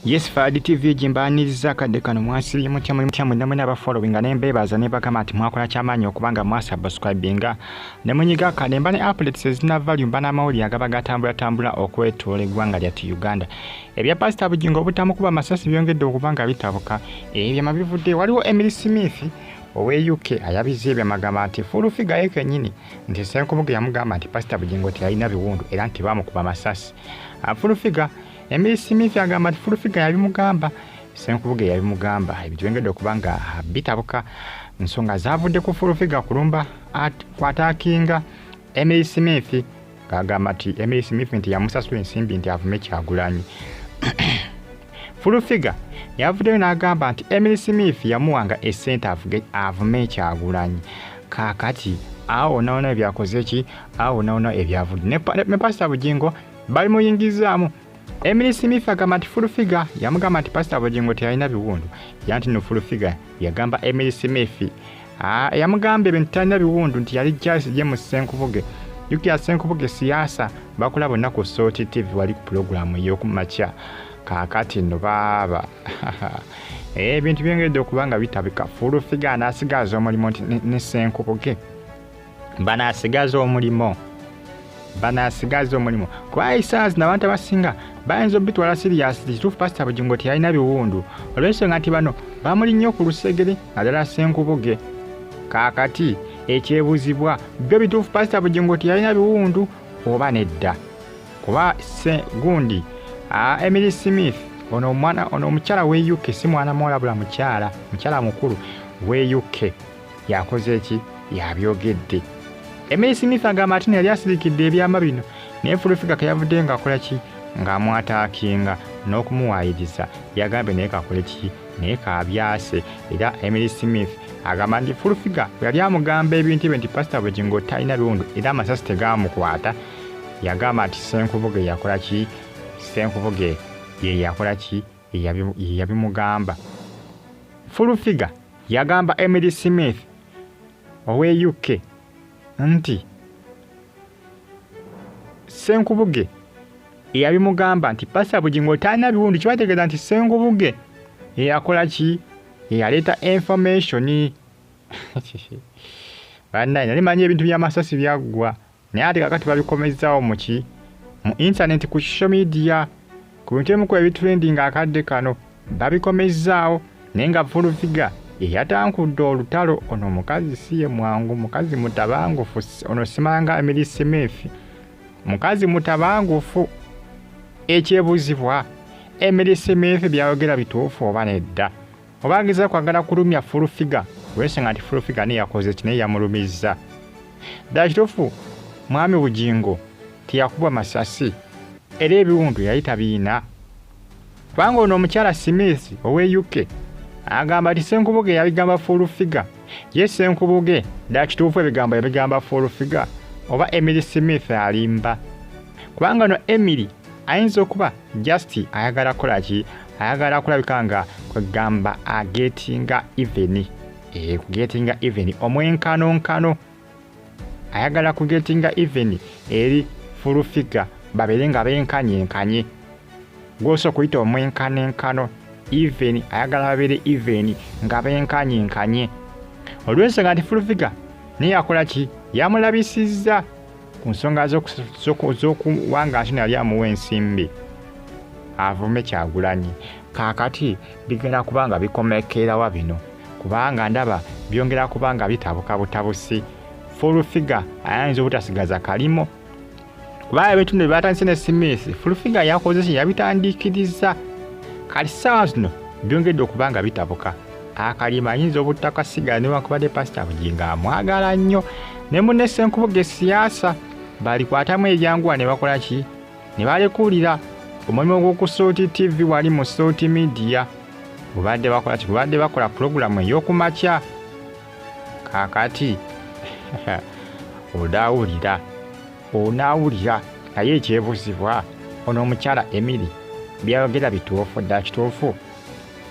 Yes Fadi TV jimbaniriza akadde kano mwasibye mutya muli mutya mwinamwe n'abafollowinga ne mbeebaza ne bagamba nti mwakola kyamaanyi okubanga mwasubscribinga ne munyiga akadde mba ne updates ezina value mba n'amawulire agaba gatambulatambula okwetoola eggwanga lyattu Uganda ebya pasita Bugingo obutamukuba amasasi byongedde okuba nga bitabuka ebyama bivudde waliwo Emily Smith owe UK ayabizza ebyo amagamba nti fulufiga ye kennyini nti Ssenkubuge yamugamba nti pasita Bugingo teyalina biwundu era nti baamukuba amasasi fulufiga Emily Smith agamba nti fulufiga yabimugamba senkubuge yabimugamba ebitwengedde okuba nga bitabuka nsonga zavudde ku fulufiga kulumba kwatakinga Emily Smith agamba nti Emily Smith nti yamusasula ensimbi nti avume kyagulanyi fulufiga yavuddeyo n'agamba nti Emily Smith yamuwanga esente avume kyagulanyi kakati awo nawona ebyakoze ki awo nawona ebyavudde ne pasita bugingo balimuyingizaamu Emily Smith agamba nti Full Figure yamugamba nti Pastor Bugingo teyalina biwundu era nti no Full Figure yagamba Emily Smith ah, yamugamba ebintu talina biwundu nti yali Charles James Ssenkubuge Yukia Ssenkubuge siyaasa bakola bonna ku Salt TV wali ku pulogulaamu ey'okumakya kaakati no baaba eh, ebintu byongedde okuba nga bitabika Full Figure n'asigaaza omulimu nti ne Ssenkubuge banasigaza omulimo banasigaza omulimo kuba isaazi nabantu abasinga bayinza obitwala siriyasi kituufu pasita bugingo teyalina biwundu olwensonga nti bano bamuli nnyo ku lusegere nadala senkubuge kaakati ekyebuzibwa byo bituufu pasita bugingo teyalina biwundu oba nedda kuba se gundi emily smith ono omwana ono omukyala we uk si mwana muwalabula mukyala mukyala mukulu we uk yakoze ki yabyogedde emeyi smith agamba ati neyali asirikidde ebyama bino naye fulufiga keyavudde nga akola ki ng'amwataakinga n'okumuwaayiriza yagambye naye kakole ki naye kabyase era emily smith agamba nti fulufiga yali amugamba ebintu ebyo nti pasita bugingo talina biwundu era amasasi tegaamukwata yagamba nti senkubuge yakola ki senkubuge ye yakola ki ye yabimugamba. Full Figure yagamba Emily Smith ow'e UK nti Ssenkubuge eyabimugamba nti Pasita Bugingo talina biwundu kibategeeza nti Ssenkubuge eyakola ki eyaleeta information bannaye nali manyi ebintu by'amasasi byaggwa. naye ate kakati babikomezzawo muki mu intaneti ku social media ku bintu ebimu ku ebitrendinga akadde kano babikomezzaawo naye nga fulufiga eyatankudde olutalo ono mukazi si ye mwangu mukazi mutabangufu ono simanga emirisemeefi mukazi mutabangufu ekyebuzibwa emirisemeefi byayogera bituufu oba nedda obangiza kwagala kulumya full figure wesinga nti full figure ne yakoze kine yamulumizza dala kitufu mwami bujingo tiyakuba masasi era ebiwundu yali tabiina kubanga ono omukyala smith owe uk agamba nti senkubuge yabigamba full figure ye senkubuge dala kituufu ebigambo yabigamba full figure oba emily smith alimba kubanga no emily ayinza okuba just ayagala kola ki ayagala kulabika nga kwegamba agetinga even eh, kugetinga even omwenkanonkano ayagala kugetinga even eri fulufiga babeere nga benkanyenkanye gwosa okuyita omwenkanonkano even ayagala babeere even nga benkanyenkanye olwensonga nti fulufiga naye yakola ki yamulabisizza ku nsonga z'okuwanga ati nali amuwa ensimbi avume kyagulanyi kakati bigenda kuba nga bikomekeerawa bino kubanga ndaba byongera kuba nga bitabuka butabusi fulfiga ayinza obutasigaza kalimo kuba ebitundu byebatandise ne smith fulfiga yakozesa yabitandikiriza kati saawa zino byongedde okuba nga bitabuka akalima ayinza obutakasiga newankubadde pasita bugingo amwagala nnyo ne munne senkubuga esiyaasa balikwatamu ebyanguwa ne bakola ki ne balekulira omulimu gw'okusuuti tv wali mu suuti midiya gubadde bakola ki gubadde bakola pulogulamu ey'okumakya kakati odaawulira onaawulira naye ekyebuzibwa ono omukyala emiri byayogera bituufu dda kituufu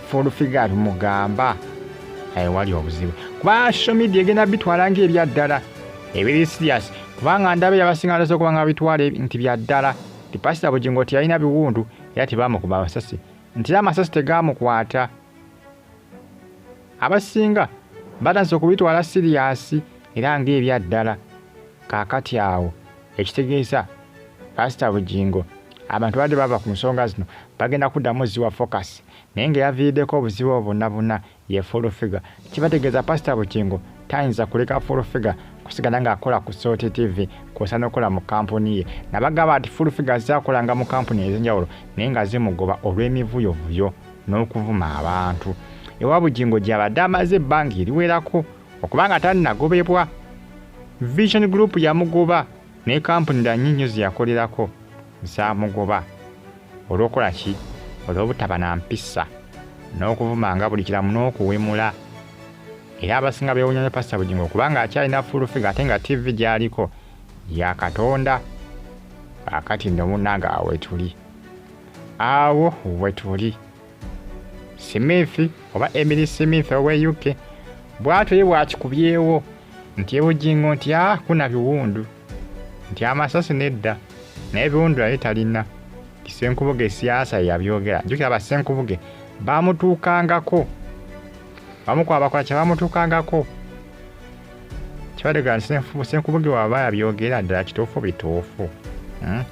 fulufiga tumugamba ewali eh, obuzibu kuba social media egenda bitwala ngaebya ddala ebiri serious kubanga ndaba yabasinga ndasa okuba nga bitwala nti bya ddala ti pasita bugingo teyalina biwundu era tebamukuba amasasi nti era amasasi tegamukwata abasinga batandise okubitwala siriyasi era ngaebya ddala kaakati awo ekitegeeza pasita bugingo abantu badde bava ku nsonga zino bagenda kuddamu ziwa focus naye nga yaviiriddeko obuzibu obwo bonna bonna ye full figure kibategeeza pasita bugingo tayinza kuleka full figure kusigala ng'akola ku sot tv kwosa n'okola mu kampuni ye nabagamba nti full figure zaakolanga mu kampuni ez'enjawulo naye nga zimugoba olw'emivuyovuyo n'okuvuma abantu ewa bugingo gy'abadde amaze ebbanga eriwerako Okuba nga tannagobebwa, Vision Group yamugoba ne kampuni dda nnyo nnyo ze yakolerako zaamugoba. Olw'okukola ki? Olw'obutaba na mpisa n'okuvumanga buli kiramu n'okuwemula. Era abasinga beewunya ne Pasita Bugingo kubanga akyalina fulufiga ate nga ttivi gy'aliko ya Katonda. Kaakati nno munnange awo wetuli. Awo wetuli. Smith oba Emily Smith ow'e UK bw'atyo ye bw'akikubyewo nti ebujingo nti a ah, kuna biwundu nti amasasi nedda naye biwundu yali talina kisenkubuge siyaasa yeyabyogera jukira basenkubuge bamutuukangako bamukuba bakola kye bamutuukangako kibadde ga nti senkubuge waba yabyogera ddala kituufu bituufu hmm?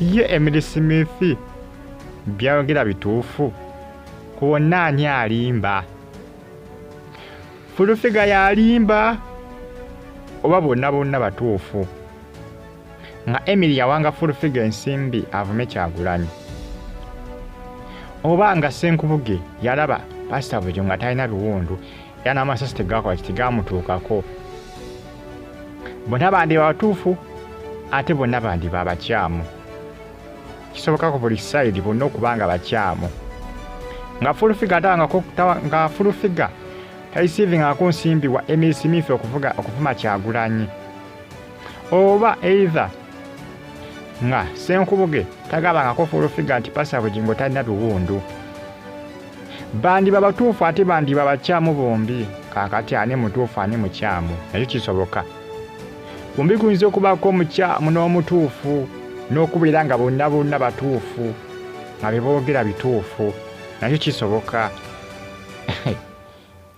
ye emily smith byayogera bituufu ku bonna ani alimba fulufiga yalimba oba bonna bonna batuufu nga emily yawanga fulufiga ensimbi avume kyagulanyi oba nga senkubuge yalaba pasita bujo nga talina biwundu era n'amasasi tegakola ki tegamutuukako bonna bandiba batuufu ate bonna bandiba abakyamu kisoboka ku buli sayidi bonna okuba nga bakyamu nga fulufiga ate nga fulufiga talisiivingako nsimbi wa emisi miifi okuvuma kyagulanyi oba eitha nga senkubuge tagabangako fulufiga nti pasa bugingo talina biwundu bandiba batuufu ate bandiba bakyamu bombi kakati ani mutuufu ani mukyamu nakyo kisoboka kumbi kuyinza okubaako omukyamu n'omutuufu n'okubeera nga bonna bonna batuufu nga beboogera bituufu nakyo kisoboka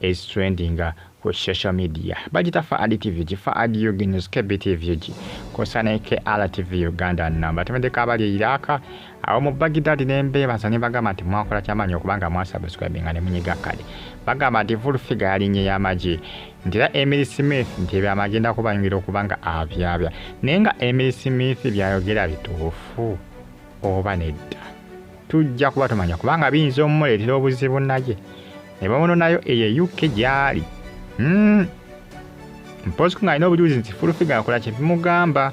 is trending ku social media bagita faadi tv gi faadi ug news kbtv ug kosa ne krtv uganda namba temedeko abali eiraka awo mu bagidadi nembeebaza ne bagamba nti mwakola kyamaanyi okubanga mwasubscribinga ne munyiga kale bagamba nti full figure yalinye y'amagi nti era emily smith nti ebyo amagenda kubanyumira okubanga abyabya naye nga emily smith byayogera bituufu oba nedda tujja kuba tumanya kubanga biyinza omumuleetera obuzibu naye ne bamunonayo eyo eyukke gy'ali hmm. mpozi ku ng'alina obujulizi nti fulufiga akola kye bimugamba